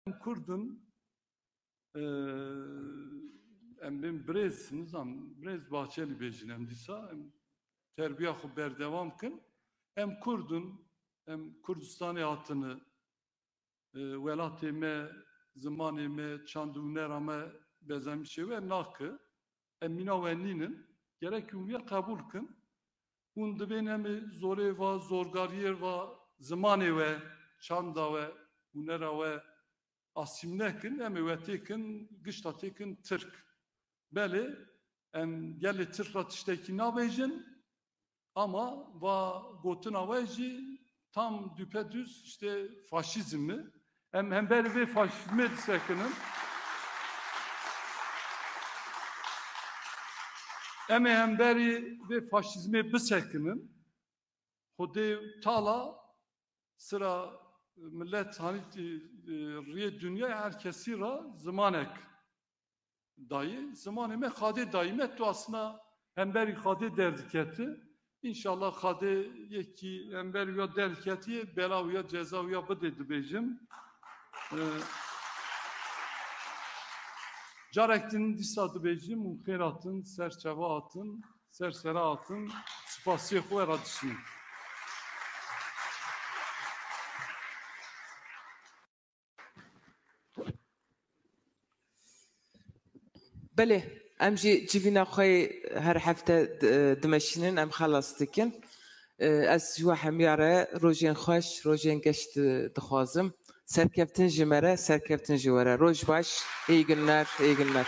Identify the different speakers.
Speaker 1: Em Kurd in, em bên birêz, nizam birêz Bahçelî bêjin em dîsa, em terbiya xwe berdewam kin. Em Kurd in, em Kurdistanê hatine, welatê me, zimanê me, çand û hunera me bezemîşê we nake. Em mîna we nînin. Gerek hûn vî qebûl kin. Hûn divên em ê zorê va, zorgariyê va zimanê we, çanda we, hûnera we asîmle kin. Em ê we tê kin, gişta tê kin Tirk. Belê, em gelê Tirk ra tiştekî nabêjin, Ama va gotina we jî tam dûpedûs işte faşîzm mi. Em hember vê faşîzmê disekinin. Em ê hemberî vê faşîzmê bisekinin. Xwedê tala sıra millet hanî riyê dünyayê her kesî ra zimanek Dayê zimanê me xadê dayî me tu asna hemberî xadê derdiketi İnşallah xadê yekî hember ya derketiye bela ya ceza ya bidê dibêjim. Ee, Carektin dîsa dibêjim û xêratin ser çeva atin, ser sera atin, spasiyê xwe ra dişînim. Belê em jî civîna xwe yê her hefte dimeşînin em xelas dikin. Ez ji we hemiya re rojên xweş, rojên geş dixwazim. Serkeftin ji me re, serkeftin ji we re. Roj baş, îyi günler, îyi günler.